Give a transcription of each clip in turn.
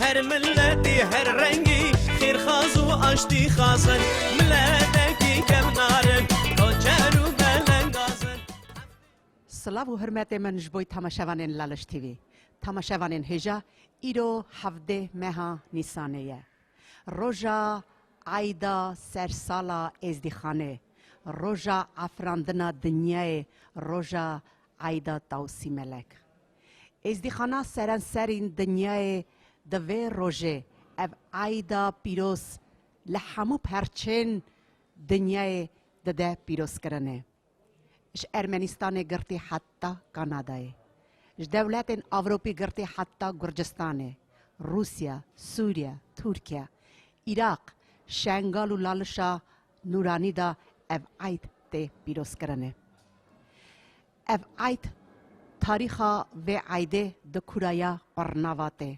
Her milletî her rengî xêrxaz û aştîxaz in. Miletekî kevnarin koçer û belengaz in. Silav û hurmetê min ji bo tamaşevanên Laliş TV. Tamaşevanên hêja îro hevdeh meha Nîsanê ye. Roja eyda ser sala êzdîxanê, roja afirandina dinyayê, roja eyda Tawsî Melek. Êzdîxana serenserîn dinyayê di vê rojê, ev eyda pîroz li hemû perçên dinyayê dide pîrozkirinê. Ji Ermenîstanê girtî heta Kanadayê, ji dewletên Ewropî girtî heta Gurcistanê, Rûsya, Sûrya, Tirkiya, Iraq, Şengal û Lalişa Nûranî de ev eyd tê pîrozkirinê. Ev eyd tarîxa vê eydê di Kuraya Qurnavat e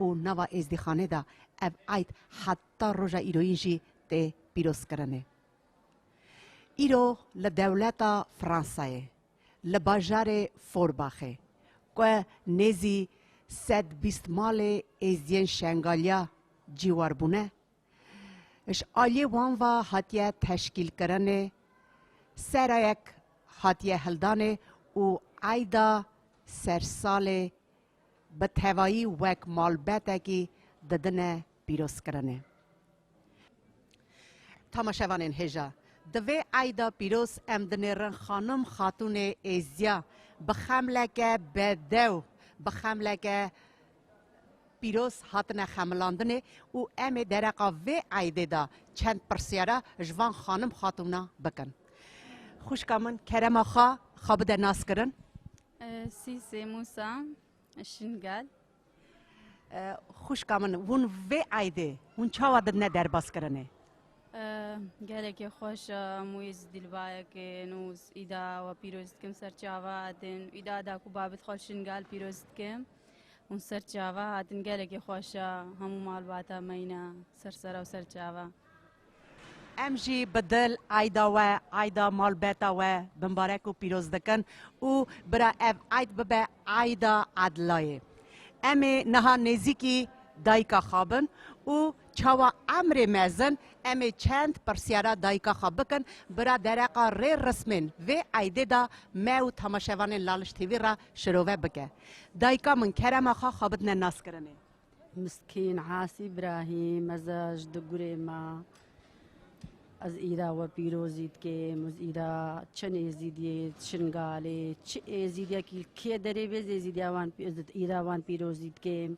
û nava Êzdîxanê de ev eyd heta roja îroyîn jî tê pîrozkirinê. Îro li dewleta Fransayê li bajarê Forbaxê ku nêzî sed bîst malê Êzdiyên Şengaliya ciwar bûne, Ji aliyê wan ve hatiye teşkîlkirinê, serayek hatiye hildanê û eyda sersalê bi tevayî wek malbetekî didine pîrozkirinê. Tamaşevanên hêja, di vê eyda pîroz em dinêrin xanim xatûnê Êziya bi xemleke bedew, bi xemleke Pîroz hatine xemilandinê û em ê dereqa vê eydê de çend pirsyara ji van xanim xatûna bikin. Xwişka min kerema xwe xwe bide naskirin. Sîsê Mûsa Şingel. Xwişka min hûn vê eydê hûn çawa didine derbaskirinê? Gelekê xweş e em wê ji dîlbayekê nûs îda we pîroz dikim ser çava din. Îda da ku babit xwe li Şingel pîroz dikim. Hûn ser çava hatin gelekî xweş e, hemû malbata me ne ser sera û ser çava. Em jî bi dil Eyda we, Eyda malbeta we bimbarek û pîroz dikin û bira ev Eyd bibe Eyda Edilayê. Em ê niha nêzîkî dayika xwe bin û çawa Emrê Mezin em ê çend pirsyara dayika xwe bikin bira dereqa rê rismên vê Eydê de me û temaşevanên Laliş TV re Şirove bike. Dayika min kerema xwe xwebitine naskirinê. Miskîn Asî Îbrahîm ez ji di gurê me ez îra we pîrozî dikêm û îra çend êzîdiyê Şingalê çi êzîdiyekî li kê derê bê ez êzîdiya wan ez di îra wan pîrozî dikêm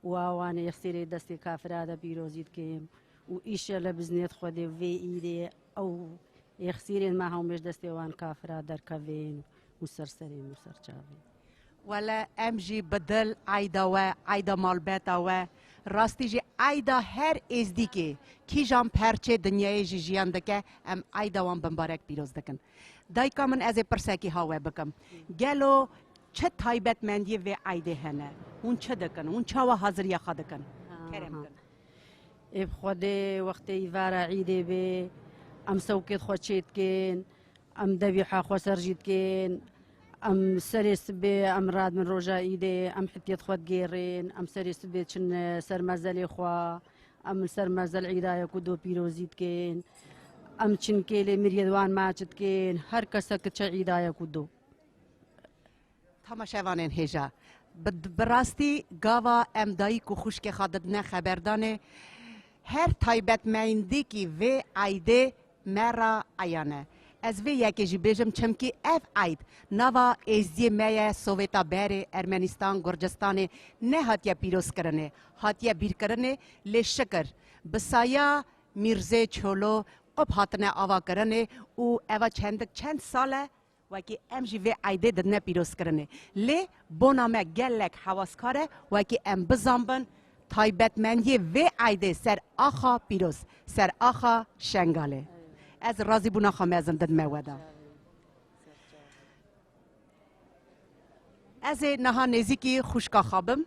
û a wan ê xsêrê destê kafira de pîrozî dikêm û îşellah bi îznê Xwedê vê îrê Ew yexsîrên me hewmêş destê wan kafira derkevên û ser serê min ser çavê. Wele em jî bi dil eyda we, eyda malbeta we, rastî jî eyda her êzdîkê, kîjan perçê dinyayê jî jiyan dike, em eyda wan bimbarek pîroz dikin. Dayika min ez ê pirsekî ha we bikim. Gelo çi taybetmendiyê vê eydê hene? Hûn çi dikin? Hûn çawa haziriya xwe dikin? Kerem kin. Ê bi Xwedê wextê îvara îdê bê, em sewkê di xwe çê dikên, em devîha xwe ser jî dikên, em serê sibê em radibin roja îdê, em hetiyê di xwe digêrên, em serê sibê diçin ser mezelê xwe, em li ser mezel îda ye ku do pîrozî dikên, em çinkê lê miriyê di wan maçi dikên, her kese ki çi îda ye ku do. Tamaşevanên hêja, bi rastî gava em dayîk û xwişkê xwe didine xeberdanê her taybetmeyndîkî vê eydê me re eyan e. Ez vê yekê jî bêjim çimkî ev eyd nava êzdiyê me ye Sovêta berê Ermenistan Gurcistanê nehatiye pîrozkirinê hatiye bîrkirinê lê şikir bi saya Mîrzê Çolo qub hatine avakirinê û eva çendik çend sal e Wekî em jî vê eydê didine pîrozkirinê. Lê bona me gelek hewaskar e wekî em bizanbin taybetmendiyê vê eydê ser axa pîroz, ser axa Şengalê. Ez razîbûna xwe mezin didime we de. Ez ê niha nêzîkî xwişka xwe bim.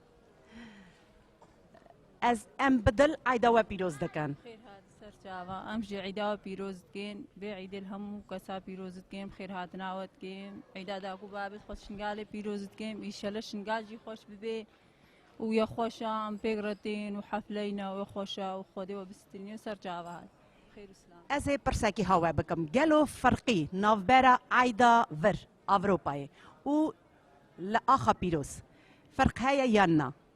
Ez em bi dil eyda we pîroz dikin. Xêr hat ser çava. Em jî eyda we pîroz dikin. Vê eydê li hemû kesa pîroz dikin. Bi xêr hatina we dikin. Eyda dagû bavê xwe Şingalê pîroz dikin. Îşellah Şingal jî xweş bibe. û ya xweş a em pêk re tên û hefleyna wê xweş a û Xwedê we bistîniyo ser çava hat. Ez ê pirsekî ha we bikim, gelo firqî navbera eyda vir Avropayê û li axa pîroz firq heye yan na?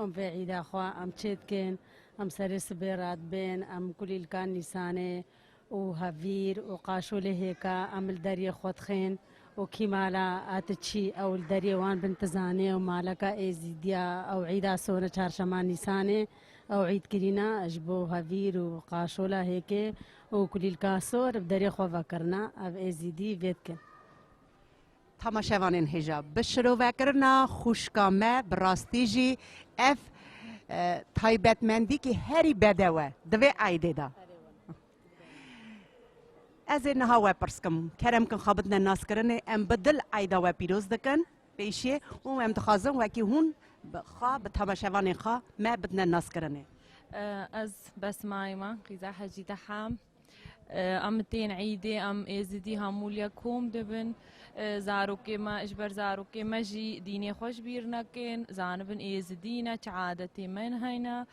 Em vê îda xwe em çê dikin, em serê sibê re dibên, em kulîlka Nîsanê û hevîr û qaşolê hêka em li deriyê xwe dixên û kî mala a ti çî ew li deriyê wan bin ti zanê û maleka Êzîdiya ew îda sona çarşema Nîsanê ew îd kirîna ji bo hevîr û qaşola hêkê û kulîlka sor bi deriyê xwe vekirina ev Êzîdî vê dikin. Tamaşevanên hêja bi şirovekirina xwişka me bi rastî jî ev taybetmendîkî herî bedew e di vê eydê de. Ez ê niha we pirs kim, kerem kin xabitine naskirinê em bi dil eyda we pîroz dikin pêşiyê û em dixwazin wekî hûn bi xwe bi tamaşevanên xwe me bidine naskirinê. Ez Besma Îman Qîza Hecî Deham Em tên îdê em êzidî hamûlya kom dibin. Zarokê me ji ber zarokê me jî dînê xwe ji bîr nekin. Zanibin êzidî ne çi adetê me hene.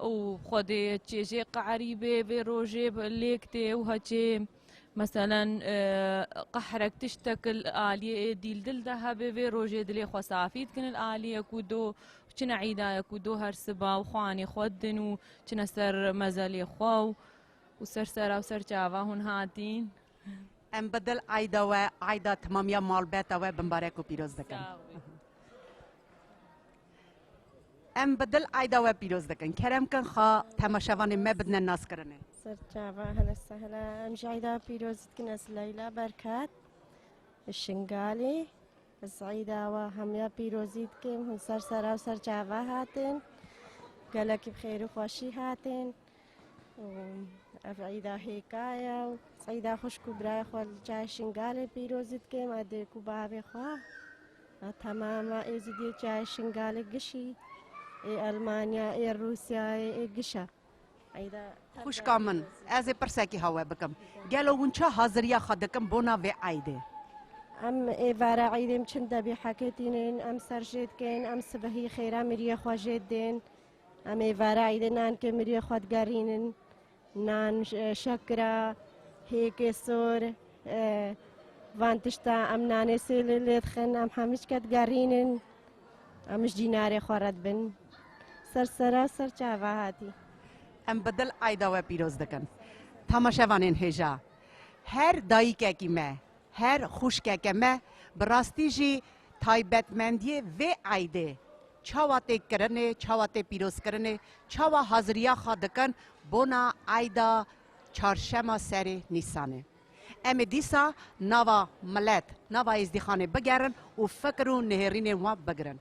Û xwedê çêjê qeerîbê vê rojê lêk tê û heçê meselen qehrek tiştek aliyê ê dîl dil de hebê vê rojê dilê xwe safî dikin il aliyê ku do çine îdaya ku do her siba û xwanê xwe din û çine ser mezelê xwe û û ser sera û ser çava hûn hatîn. Em bi dil eyda we, eyda timamiya malbeta we bimbarek û pîroz dikin. Em bi dil eyda we pîroz dikin. Kerem kin xwe temaşevanê me bidine naskirinê. Serçava hene sehne em ji eyda pîroz dikin ez Leyla Berkat li Şingalê. Ez eyda we hemiya pîrozî dikim hûn ser sera û ser çava hatin. Gelekî bi xêr û xweşî hatin. û ev îda hêka ye û îda xwişk û birayê xwe li çaya Şingalê pîrozî dike ma dê ku bavê xwe a temama Êzidiyê çaya Şingalê gişî ê Elmanya ê Rûsyayê ê gişa îda Xwişka min ez ê pirsekî hawe bikim gelo hûn çi haziriya xwe dikin bona vê îdê? Em ê vera îdê em çin debî heke tînin em ser jê dikin em sibehî xêra miriyê xwe jê didên Em ê vera îdê nan ke miriyê xwe digerînin nan şekira hêkê sor van tişta em nanê sêlê lê dixin em hemîç ke digerînin em ji dînarê xwe re dibin ser sera ser çava hatî. Em bi dil eyda we pîroz dikin. Tamaşevanên hêja her dayîkekî me Her xwişkeke me bi rastî jî taybetmendiyê vê eydê çawa tê kirinê, çawa tê pîrozkirinê, çawa haziriya xwe dikin bona eyda çarşema serê Nîsanê. Em ê dîsa nava milet, nava êzdîxanê bigerin û fikir û nihêrînên wan bigirin.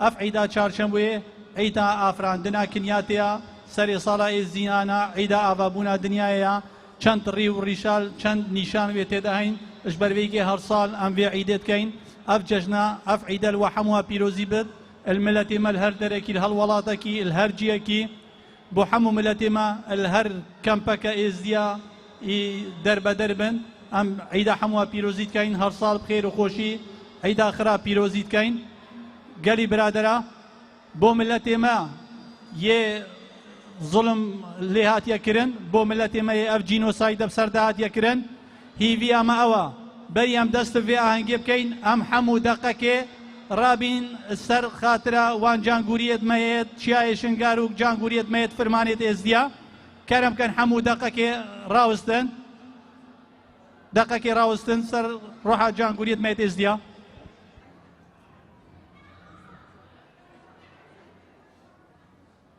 Ev Îda Çarçemwê Îda Afirandina Kinyatê ya, serê sala Êzdiyan a, Îda Avabûna Dinyayê ya. Çend rî û rîşal, çend nîşan wê tê de heyn. Ji ber vê yekê her sal em vê Îdê dikeyn. Ev cejna, ev Îde li we hemû a pîrozî bid. Li miletê me li her derekî, li her welatekî, li her ciyekî Bo hemû miletê me li her kempeke êzdiya î derbeder bin. Em îda hemû we pîrozî dikeyn. Her sal bi xêr û xweşî îda xira pîrozî dikeyn. Gelî biradera bo miletê me yê zulm lê hatiye kirin, bo miletê me yê ev cînosayde bi ser de hatiye kirin. Hêviya me ew e, berî em dest bi vê ahengê bikeyn, em hemû deqekê rabîn ser xatira wan cangûriyêd me yê Çiyayê Şingar û cangûriyêd me yê Firmanêd Êzdiya. Kerem bikin hemû deqekê rawistin, deqekê rawistin ser roha cangûriyêd me yê Êzdiya.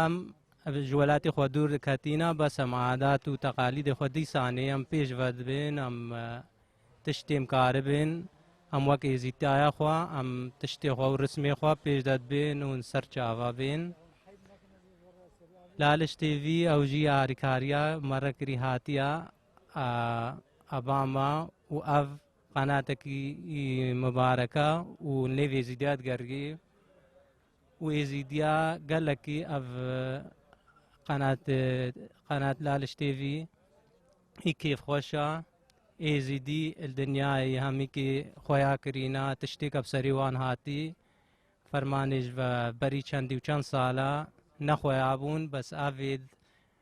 Em ji welatê xwe dûr diketîne, bes em adat û teqalîdê xwe dîsanê em pêş ve dibên, em tiştêm karibên, em wek êzîtaya xwe, em tiştê xwe û rismê xwe pêş de dibên û li ser çava bên. Laliş TV ew jî alîkariya me re kirî hatiye eba me û ev qenatekî mibareke û nêvê zî digerî. û êzîdiya gelekî ev qenat qenat laliş têvî î kêfxweşa êzîdî il dinyayê hemîkî xweya kirîna tiştêk ev serî wan hatî fermanê ji ve berî çendî û çend sala nexweya bûn bes ev êd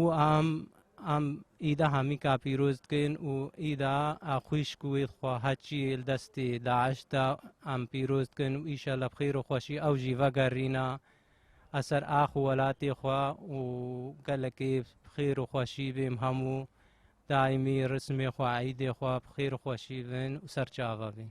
û em em îda hemî ka pîroz dikin û îda a xwîşk û wê xweha çî yê li destê DAIŞ da em pîroz dikin û îşellah bi xêr û xweşî ew jî vegerîna a ser ax û welatê xwe û gelekê bi xêr û xweşî bên hemû daîmî risimê xwe eîdê xwe bi xêr û xweşî bin û serçave bin.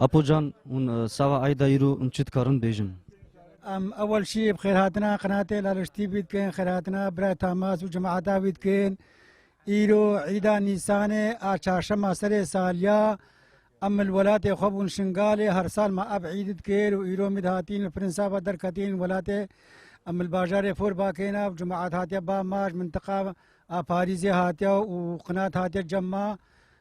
Apo can hûn sava Ayda îro hûn çi dikarin bêjin? Em ewel şî bi xêrhatina qinatê Laliştî wî dikin, xêrhatina Birayê Tamas û cemaeta wî dikin. Îro îda Nîsanê a çarşema serê saliya em li welatê xwe bûn Şingalê her sal me ev îd dikir û îro mîd hatîn li Firinsa ve derketîn welatê em li bajarê Fûr bakêna û cemaet hatiye ba ma ji mintiqa a Parîzê hatiye û qinat hatiye cem ma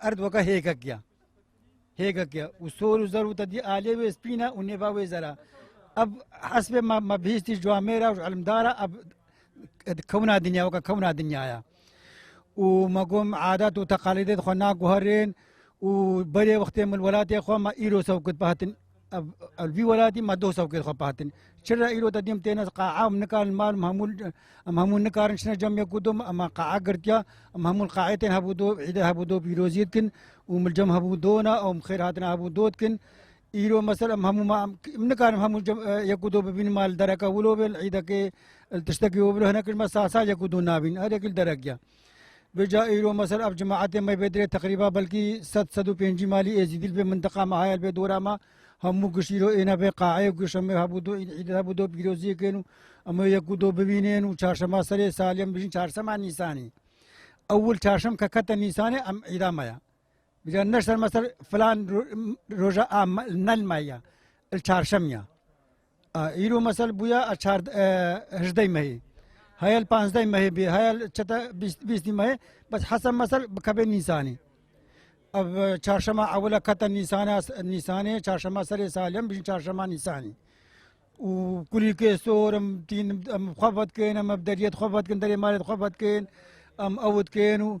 Erd weke hêkek ya. Hêkek ya. Û sor û zer û te dî alê wê spîne û nêva wê zera. Ev hesbê me me bihîstî ji amêra û ji elmdara ev kewna dinya weke kewna dinyaya. Û me gom adet û teqalîdê xwe naguherên û berê wextê min welatê xwe me îro sewkit bi hatin Ev vî welatî me doh sewkê xwe patin. Çi re îro te dîm têne qaa em nikarin mal em hemû em hemû nikarin çine cem ye ku dom em qaa girtiya em hemû qaê tên hebû do îde hebû do pîrozî dikin û min cem hebû dona ew min xêr hatina hebû do dikin. Îro mesela em hemû ma em nikarin hemû ye ku do bibînin mal dereke wilo bê îdekê tiştekî wilo hinek me sal sal ye ku do nabîn herêkî derek ye. Bêca îro me ser ev cemaetê me bê dirê teqrîba belkî sed sed û pêncî malî êzîdî li vê mintiqa me heye li vê dora me hemû giş îro êne vê qaeyê ku şemê hebû do îd îd hebû do pîroziyek ên û em ê yek û do bibînên û çarşema serê salî em dijîn çarsema nîsanî ewil çarşem ke kete nîsanê em îda me ya Bêca neşter me ser filan roja a nel me ya il çarşem ya Îro mesel bûya hejdey mehê. Heyel panzdey mehê bê heyel çete bîstî mehê bes hese mesel bikebê nîsanî. Ev çarşema ewile kete nîsana nîsanê çarşema serê salem bijîn çarşema nîsanî. û kulîkê sor em tîn em xwe vedkin em ev deriyê xwe vedkin derê malê xwe vedkin em ew dikin û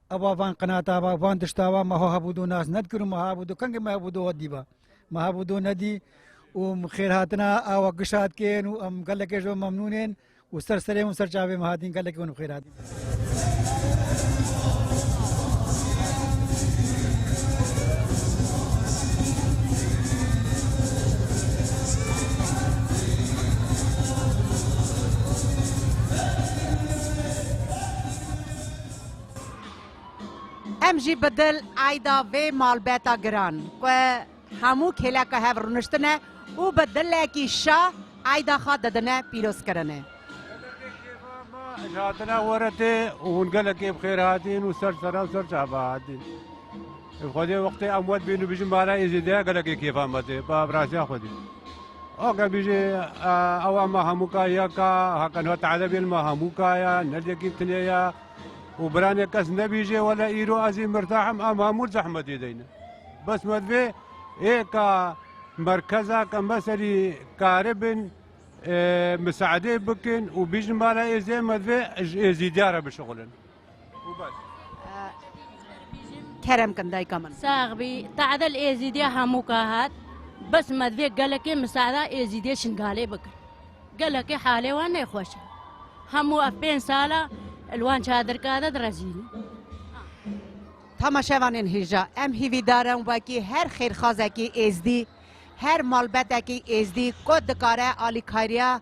Ava van qinata va van dişta va meho hebûdo nas nedkir û me hebûdo kengê me hebûdo we dîba. Me hebûdo nedî û xêrhatina awa gişa dikên û em gelekê ji memnûn ên û ser serê hûn ser çavê me hatîn gelekê hûn xêr hatîn. Em jî bi dil eyda vê malbeta giran ku hemû kêleka hev rûniştine û bi dilekî şa eyda xwe didine pîrozkirinê. Gelekê kêfa ma ji hatina we re tê û hûn gelekê bi xêr hatîn û ser sera û ser çava hatîn. Xwedê wextê em wed bîn û bijîn mala Êzidê gelekê kêfa me tê. Ba bi rastiya Xwedê. Oke bije ewa ma hemû ka ya ka hakan hat edebiyên ma hemû ka ya ne lekî tinê ya û biranê kes nebije wele îro ez ê mirtahim em hemû zehmetê de ne. Bes me divê ê ka merkeza ka me serî karibin misaedê bikin û bijin bala êzê me divê êzîdiyare bişixulin. û bes. Kerem kin dayka min. Sax bî, tadil êzîdîya hemû ka hat. Bes me divê gelekê misada êzîdê şingalê bikin. Gelekê halê wan nêxweş e. Hemû ev pênc sal e li wan çadirka de direzînin. Tamaşevanên hêja, em hîvîdar in wekî her xêrxazekî êzdî, her malbetekî êzdî ku dikare alîkariya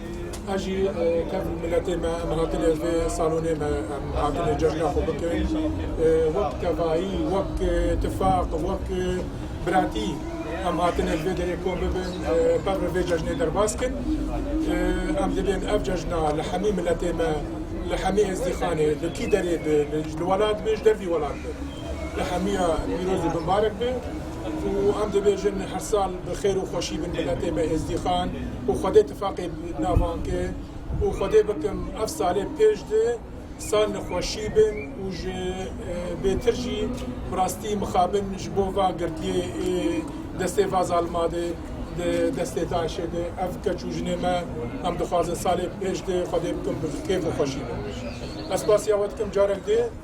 Ez jî kem miletê me em hatine vê salonê me em hatine cejna xwe bikin wek tevayî wek tifaq wek biratî em hatine li vê derê kom bibin pevre vê cejnê derbas kin em divên ev cejna li hemî miletê me li hemî êzdîxanê li kî derê bi li welat bi ji dervî welat bi li hemî ya pîroz û binbarek bi. Û em dibêjin her sal bi xêr û xweşî bin miletê me Êzdîxan û Xwedê tifaqê bi navan ke û Xwedê bikim ev salê pêş di sal li xweşî bin û ji bêtir jî bi rastî mixabin ji bo va girtiyê ê destê va zalima de di destê DAIŞ'ê de ev keç û jinê me em dixwazin salê pêş di Xwedê bikim bi kêf û xweşî bin. Ez spasiya we dikim carek dê.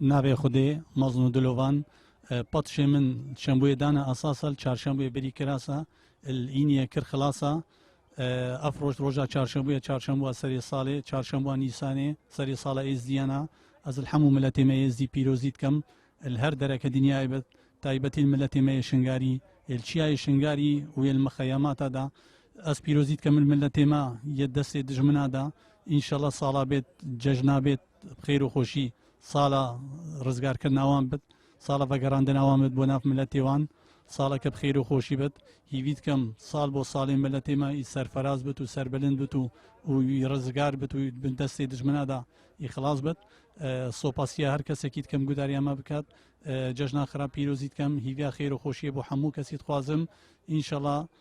Navê Xwedê, mezn û dilovan, Patişê min şembuyê dane asasal, çarşembuyê berî kirasa, il îniyê kir xilasa, ev roj roja çarşembuye, çarşembuwa serê salê, çarşembuwa nîsanê, serê sala êzdiyana, ez il hemû miletê me êzdî pîrozî dikem, il her dereke dinyayê bi taybetî il miletê me yê şingarî, il çiyayê şingarî û yê il mixeyemata da, ez pîrozî dikem il miletê me yê destê dijmina da, înşela sala bêt, cejna bêt. Bi xêr û xweşî sala rizgarkirina wan bit, sala vegerandina wan bit bo nav miletê wan, saleke bi xêr û xweşî bit. Hîvî dikim sal bo salê miletê me î serferaz bit û serbilind bit û wî rizgar bit û di destê dijmina de î xilas bit. Sopasiya her kesekî dikim gudariya me bikat. Cejna xira pîrozî dikim. Hîviya xêr û xweşiyê bo hemû kesî dixwazim. Înşela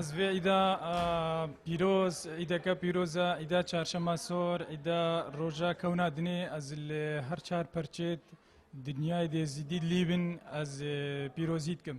Ez vê îda pîroz, îdeke pîroz e, îda çarşema sor, îda roja kewna dinê ez li her çar perçê dinyayê dê zîdî lîbin ez pîrozî dikim.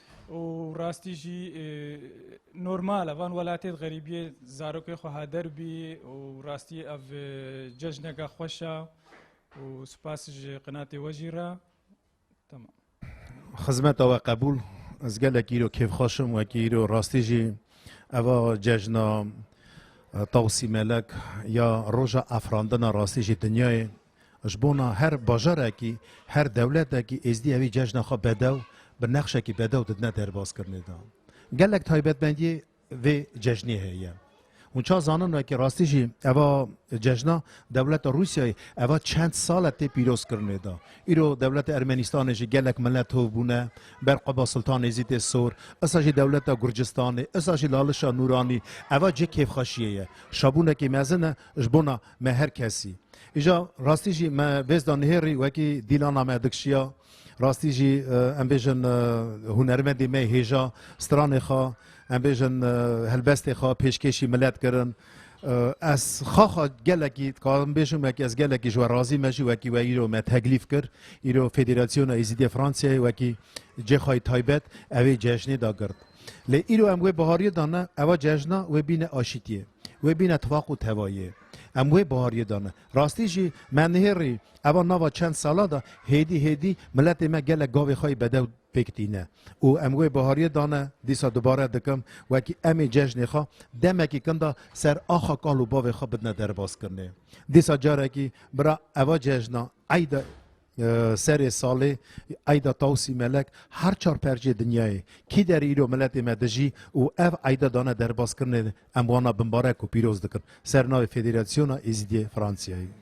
û rastî jî normal e van welatê di xerîbiyê zarokê xwe hader bî û rastî ev cejneke xweş e û spas ji qinatê we jî re temam. Xizmeta we qebûl ez gelek îro kêfxweş im wekî îro rastî jî eva cejna Tawsî Melek ya roja afirandina rastî jî dinyayê Ji bona her bajarekî, her dewletekî Êzdî evî cejna xwe bedew bi nexşekî bedew didine derbaskirinê de. Gelek taybetmendîyê vê cejnê heye. Hûn ça zanin wekî rastî jî eva cejna dewleta Rûsyayê eva çend sal e tê pîrozkirinê de. Îro dewleta Ermenîstanê jî gelek mele tov bûne ber qeba Sultan Êzîdê Sor, isa jî dewleta Gurcistanê, isa jî lalişa Nûranî. Eva cih kêfxweşîyê ye. Şabûnekî mezin e ji bona Me her kesî. Îja rastî jî me vêz da nihêrî wekî dîlana me dikşiya. Rastî jî em bêjin hunermendê me hêja stranê xwe em bêjin helbestê xwe pêşkêşî milet kirin. Ez xaxa gelekî dikarim bêjim wekî ez gelekî ji we razî me jî wekî we îro me teklîf kir îro Federasyona Êzîdê Fransayê wekî cê xwe yê taybet ew ê cejnê da gird. Lê îro em wê bihariyê da ne, eva cejna wê bîne aşîtiyê, wê bîne tifaq û tevayiyê. Em wê bihariyê da ne. Rastî jî me nihêrî eva nava çend salan da hêdî hêdî miletê me gelek gavê xwe yê bedew pêk tîne û em wê bihariyê da ne. Dîsa dubare dikim wekî em ê cejnê xwe demekî kin da ser axa kal û bavê xwe bidine derbaskirinê. Dîsa carekî bira eva cejna eyda Serê salê Eyda Tawsî Melek her çar percê dinyayê kî der îro miletê me dijî û ev eyda dane derbaskirinê em wana bimbarek û pîroz dikin ser navê Federasyona Êzidiyê Fransiyayê.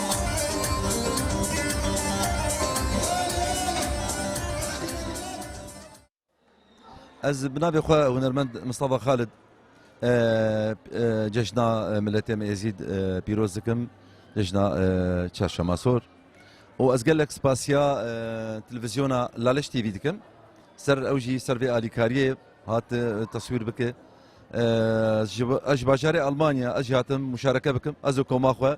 Ez bi navê xwe hunermend Mistafa Xalid cejna miletê me Êzîd pîroz dikim cejna çarşema sor û ez gelek spasiya televizyona Laleş TV dikim ser ew jî ser vê alîkariyê hat taswîr bike ez ji bajarê Almanya ez jî hatim muşareke bikim ez û koma xwe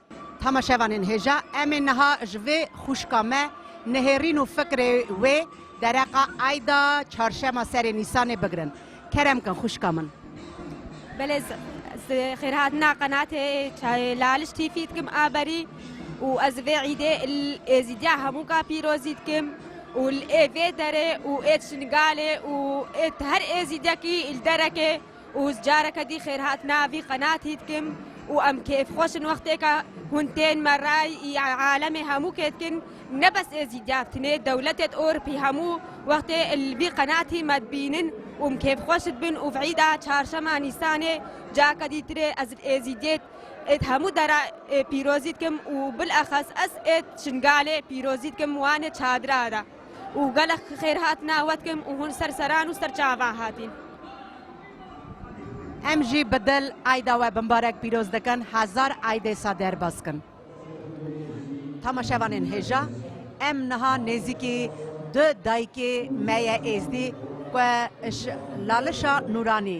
Tahma şevanên hêja em ê niha ji vê xwişka me nihêrîn û fikrê wê dereqa Eyda Çarşema serê Nîsanê bigirin. Kerem bikin xwişka min. Belê xêrhatina qenatê çayê laliş tîfî dikim a berî û ez vê îdê êzîdiya hemû ka pîrozî dikim û ê vê derê û ê çingalê û ê her êzîdekî li derekê û careke dî xêrhatina vî qenatî dikim û em kêfxweş in wextêka hûn tên me re î alemê hemû kê dikin ne bes êzî diyabtinê dewletêt ûrpî hemû wextê li vî qenatî me dibînin û em kêfxweş dibin û v'îda çarşema nîsanê careke dî tirê ez li êzîdiyêt êt hemû dera pîrozî dikim û bilexes ez êt şingalê pîrozî dikim wanê çadira ra. û gelek xêr hat newetkim û hûn ser seran û ser çavan hatîn. Em jî bi dil Eyda we bimbarek pîroz dikin, hezar Eydê sa derbas kin. Tamaşevanên hêja, em niha nêzîkî du dayikê me ye êzdî ku ji lalişa Nûranî,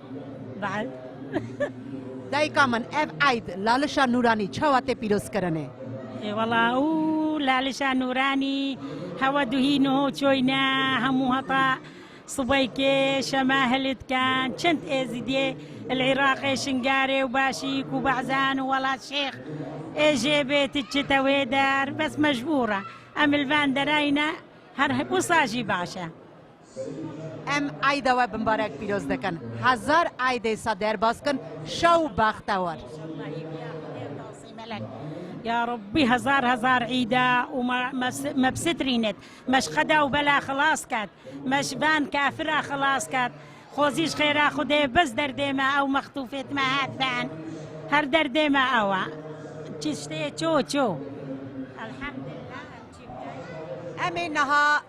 Dayika min ev eyd Lalişa Nûranî çawa tê pîrozkirinê? Wala û Lalişa Nûranî hewa duhî niho çoyne hemû heta sibeykê şeme hilê dikin. Çend êzîdiyê li Iraqê Şingarê û Başîk û Bahzen û Welat Şêx ê jê bê ti çite wê der bes mecbûr e. Em li van derayîne her wisa jî baş e. Em Eyda we bi mbarek pîroz dikin. Hezar Eyd ê sa derbas kin şa û bextewar. Ya Rabbî hezar hezar Eyda û me bisitrînit, me ji qeda û bela xilas ket, me ji van kafira xilas ket. Xwezî ji xêra Xwedê bes derdê me ew mextûfêt me hefen. Her derdê me ew e. Çiştê ço ço. Elhamdulillah em çî bikey. Em ê niha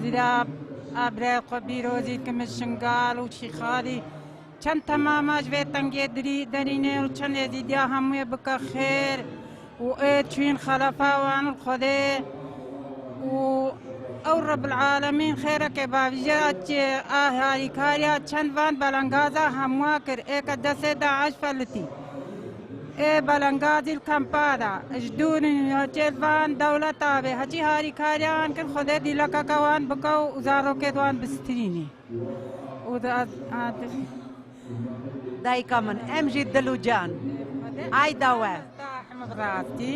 Zîra abreyê xwe bîro zî dikim min Şingal û Şîxalî çend temama ji vê tengiyê dirî derîne û çendê zî diya hemûyê bike xêr û ê çûyîn xelefa wan û Xwedê û ew Rebil'alemîn xêrekê bavîje açê a harîkariya çend van belengaza hemûa kir ê ke destê DAIŞ felitî. Ê belengaz îl kempa da. Ji dûr û newçeyê van dewleta bê heçî harîkariya wan kir Xwedê dîlekeke wan bike û zarokê di wan bistîrînî û di Dayika min em jî dil û can eyda we. Bi rastî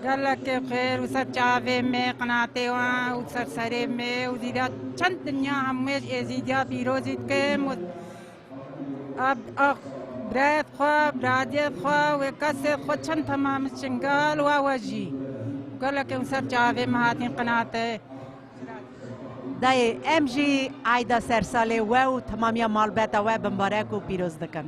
gelekê xêr û ser çavê me qinatê wan û ser serê me û dîda çend dinya hemûyê ji Êzîdiya pîrozî dikim û Abd ax, birayet xwe, biradiyet xwe wê kesê xwe çend temam bi çingal wa wejî. Gelek em ser çavê me hatin qinate. Dayê em jî eyda sersalê we û temamiya malbeta we bimbarek û pîroz dikin.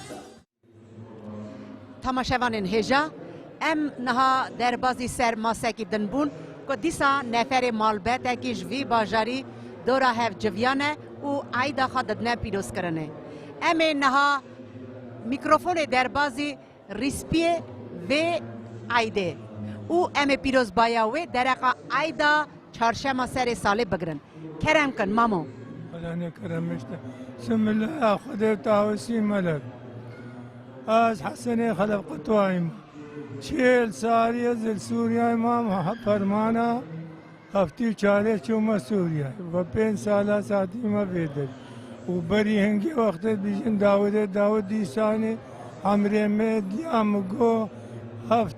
Tamaşevanên hêja, em niha derbazî ser masekî din bûn ku dîsa neferê malbetekî ji vî bajarî dora hev civiyane û eyda xwe didine pîrozkirinê. Em ê niha mîkrofonê derbazî rîspiyê vê eydê û em ê pîrozbaya wê dereqa eyda Çarşema serê salê bigirin. Kerem kin mamo. Wela ne kerem işte. Sımilla Xwedê tawesî melek. Az Hesenê Xelef Qutwayim. Çêl saliye zil Sûriyayê mam permana heftî çarê çûme Sûriyayê. Ve pênc sala satî me vêdir. Û berî hingê wextê bîjin Dawidê Dawid dîsanê emrê me diya min got heft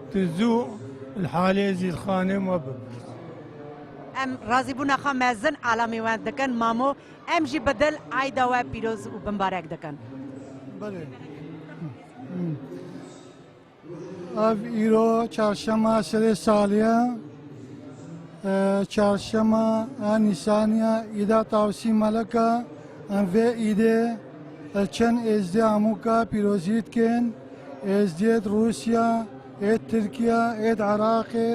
Tu zû li halê Zîlxanê me bipirs. Em razîbûna xwe mezin alamê wend dikin mamo, em jî bi dil eyda we pîroz û binbarek dikin. Belê. Ev îro çarşema serê saliye çarşema a nîsaniya îda tavsî meleka em vê îdê li çend êzdê amûka pîrozî dikin. Ez diyet Rusya, êd Tirkiya, êd Iraqê,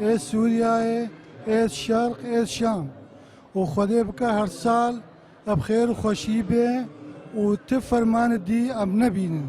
êd Sûriyayê, êd Şerq, êd Şam. Û Xwedê bike her sal eb xêr û xweşî bê û ti fermani dî em nebînin.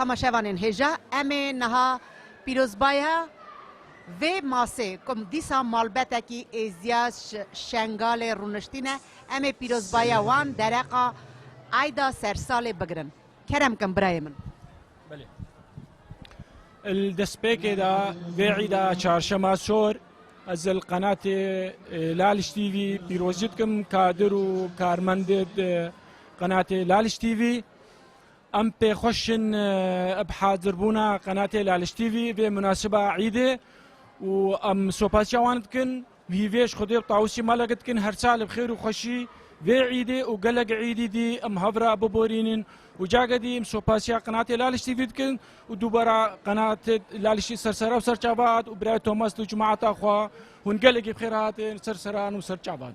Tamaşevanên hêja em ê niha pîrozbaya vê masê ku dîsa malbetekî êziya Şengalê rûniştîne em ê pîrozbaya wan dereqa eyda sersalê bigirin. Kerem kin birayê min. Belê. Li destpêkê de vê îda çarşema sor ez li qenatê Laliş TV pîrozî dikim kadir û karmendê qenatê Laliş TV. Em pê xweş in bi hazirbûna qenatê Laliş TV vê munasiba îdê û em sopaşiya wan dikin. Wî vêj Xwedê û Tawusî malek dikin her sal bi xêr û xweşî vê îdê û gelek îdî dî em hev re biborînin û cage dî em sopasiya Qenatê Laliş TV dikin û dubara Qenatê Lalişî ser serra û ser çavat û birayê Thomas li cemaeta xwe hûn gelekî bi xêr hatin ser serran û ser çavat.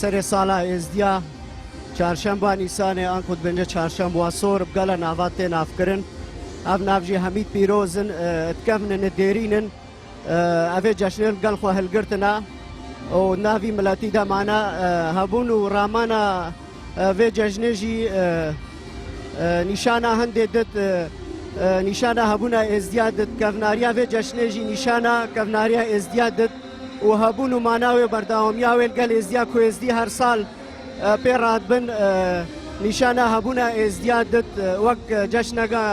Serê sala Êzdiya Çarşemba Nîsanê an ku dibêje Çarşemba Sor bi gala nava tê navkirin. Ev nav jî hemî pîroz in, dikevin in, dêrîn in. Ev ê ceşnê li gel xwe hilgirtina û navî miletî de mane. Hebûn û ramana vê cejnê jî nîşana hindê dit, nîşana hebûna Êzdiya dit. Kevnariya vê ceşnê jî nîşana kevnariya Êzdiya dit. û hebûn û mana wê berdewamiya wê li gel êzdiya ku êzdî her sal pê re dibin nîşana hebûna êzdiya dit wek ceşneke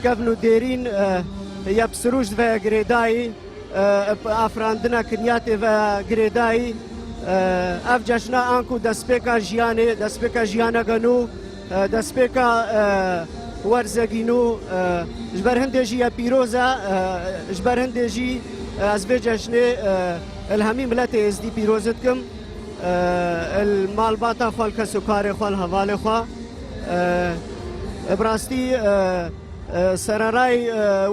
kevn û dêrîn ya bi sirûj dive girêdayî bi afirandina kinyatê ve girêdayî ev ceşna anku destpêka jiyanê destpêka jiyaneke nû Destpêka werzegî nû ji ber hindê jî ye pîroz e, ji ber hindê jî ez vê ceşnê li hemî miletê êzdî pîrozi dikim li malbata xwe li kesokarê xwe li hevalê xwe. Bi rastî sererayê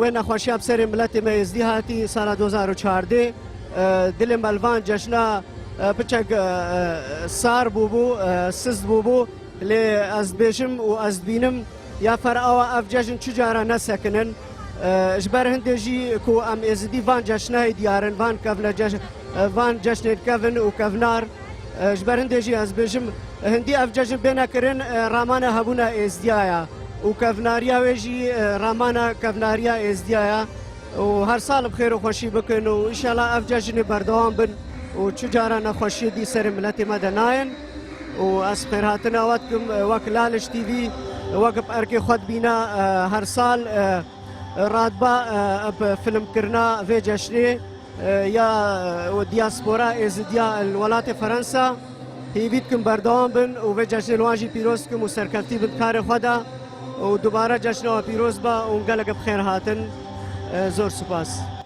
wê nexweşiya bi serê miletê me êzdî hatî sala du hezar û çardê dilê me li van ceşna piçek sar bûbû, siz bûbû. Lê ez dibêjim û ez dibînim ya per awa ev cejn çi care ne sekinin. Ji ber hindê jî ku em êzidî van ceşnehê diyarin, van kevne cejn, van ceşnên kevn û kevnar. Ji ber hindê jî ez dibêjim hindî ev cejn bêne kirin ramana hebûna êzdiya ya û kevnariya wê jî ramana kevnariya êzdiya ya û her sal bi xêr û xweşî bikin û înşela ev cejn ê berdewam bin û çi care nexweşiyê dî serê miletê me de nayin. û ez xêrhatina we dikim wek Laliş TV wek bi erkê xwe dibîne her sal radba bi filmkirina vê ceşnê ya dîaspora êzidiya li welatê Ferensa hêvî dikim berdewam bin û vê ceşnê li wan jî pîroz dikim û serkeftî bin di karê xwe de û dubare ceşna we pîroz be û gelekî bi xêr hatin. Zor spas.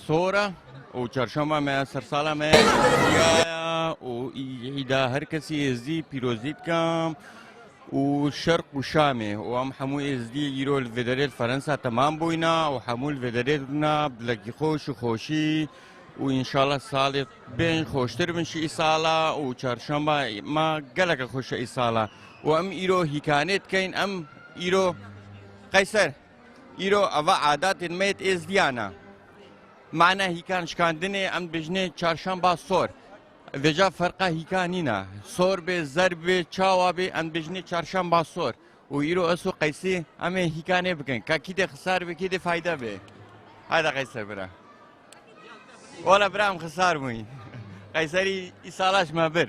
Sora û çarşamba me ya sersala me ya û îda her kesî êzdî pîrozî dikim û şerq û şamê û em hemû êzdî îro li vê derê li Ferensa temam bûyna û hemû li vê derê dibina dilekî xweş û xweşî û înşallah salê bên xweştir bin ji îsala û çarşamba ma geleke xweş e îsala û em îro hîkanê dikeyn em îro qeyser Îro ava adatên me yê Êzdiyan e. Mane hîkan şikandinê em dibêjinê çarşamba sor. Vêca ferqa hîka nîne. Sor bê, zerb bê, çawa bê em dibêjinê çarşamba sor. Û îro ez û Qeysî em ê hîka nêbikin. Ka kî dê xisar bê, kî dê fayde bê. Hada Qeyser bira. Wala bira em xisar bûyî. Qeyserî îsala ji me bir.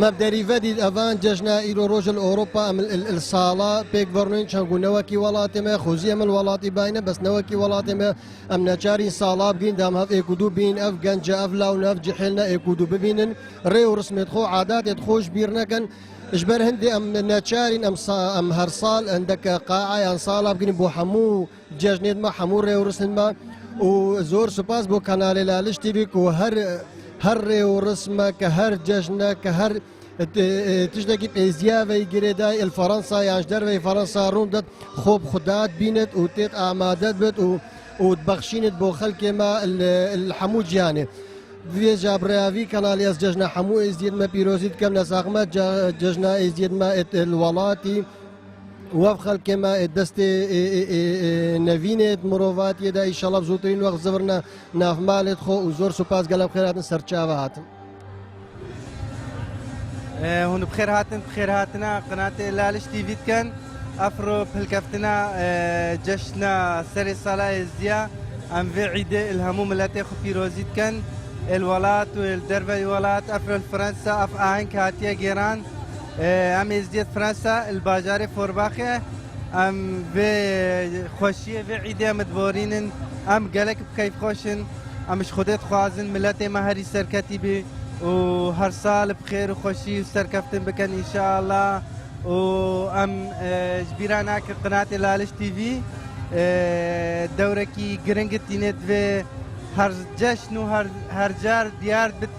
Mev derî vedî evan cejna îro roj il Ewropa em il sala pêk verûnên çend ku newekî welatê me xwezî em il welatî bîne bes newekî welatê me em neçarîn sala bigîn de em hev êk û dû bîn ev genc e ev law ne ev cihêl ne êk û dû bibînin rê û rismêt xwe adatêt xwe ji bîr nekin ji ber hindê em neçarîn em em her sal hindek qaeyan sala bigînin bo hemû Cejnê me hemû rê û rismên me û zor spas bo kanalê li Aliş TV ku her her rê û rismek her cejnek her tiştekî pêziya vey girê day il Fransa yan ji dervey Fransa rûn dat xwe bi xwe dat bînit û têt amade bit û û dibexşînit bo xelkê me li hemû cîhanê. Vê ja bi rêya vî kanalê ez cejna hemû êzidiyên me pîrozî dikim. Nesaq me cejna êzidiyên me êt li welatî. Wev xelkê me ê destê nevîn ê mirovatiyê de îşallah zûtirîn wext zivirne nav malê xwe û zor supas gelek xêr hatin ser çava hatin. Hûn bi xêr hatin bi xêr hatina qinatê Laliş TV dikin. Afro pilkeftina ceşna serê sala êzdiya em vê îdê il hemû miletê xwe pîrozî dikin. Êl welat û êl derveyî welat, ef êl Fransa, ef aheng hatiye gêran. Em Êzdiyet Presa li bajarê Forbaxê em vê xweşiyê vê îdê em diborînin. Em gelek bi keyfxweş in. Em ji Xwedê dixwazin miletê me herî serketî bî û her sal bi xêr û xweşî û serkeftin bikin înşealla û em ji bîr re nakin qinatê Laliş TV dewrekî giring tîne divê her ceşn û her car diyar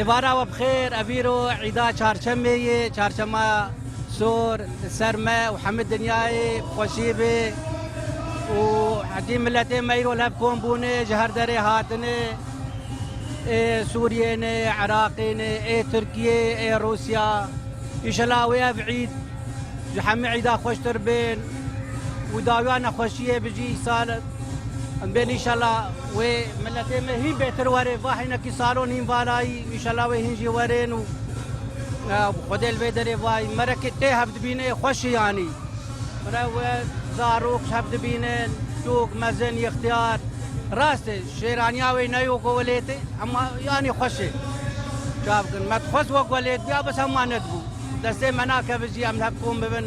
Êvara we bi xêr, ev îro îda çarşemê ye, çarşema sor li ser me û hemû dinyayê bi xweşî be û hetî miletê me îro li hev kom bûne ji her derê hatine, ê Sûriyê ne, ê Iraqê ne, ê Tirkiyê, ê Rûsya, îşela wê ev îd ji hemû îda xweştir bên û dawiya nexweşiyê bijî îsal in bên îşela. Wê miletê me hîn bêtir were va heynekî salon hîn valayî înşela wê hîn jî werin û Xwedê li vê derê vayî merekê tê hev dibîne yê xweş î anî. Mire we zarok hev dibînin sûk mezin yixtiyar. Rast e şêraniya wê ne yo ku welêt e ema anî xweş e. Çabikin me dixwest wek welêt biya bes ema nedibû. Destê me nakeve jî em li hev kom bibin.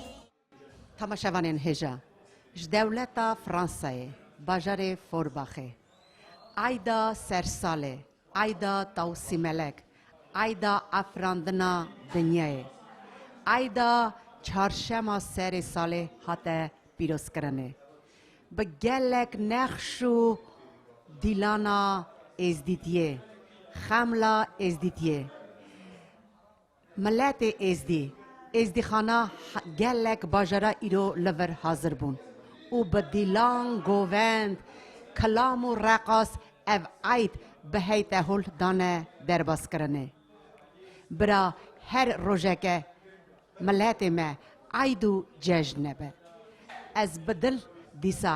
Tamaşevanên hêja ji dewleta Fransayê bajarê Forbaxê eyda sersalê, eyda tawsîmelek, eyda afirandina dinyayê, eyda çarşema serê salê hate pîrozkirinê. Bi gelek nexş û dîlana Êzdîtiyê, xemla Êzdîtiyê. Miletê Êzdî, Êzdîxana gelek bajara îro li vir hazir bûn û bi dîlan, govend, kilam û reqas ev eyd bi hey tehûl dane derbaskirinê. Bira her rojeke miletê me eyd û cejn be. Ez bi dil dîsa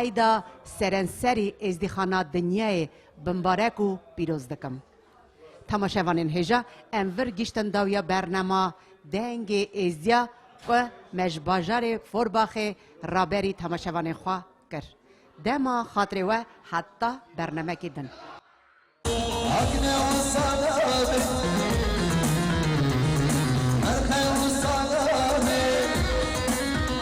eyda serenserî Êzdîxana Dinyayê bimbarek û pîroz dikim. Temaşevanên hêja em vir giştin dawiya bernema Dengê Êzdiya ku me ji bajarê Forbaxê raberî temaşevanên xwe kir. Dema xatirê we heta bernemekî din.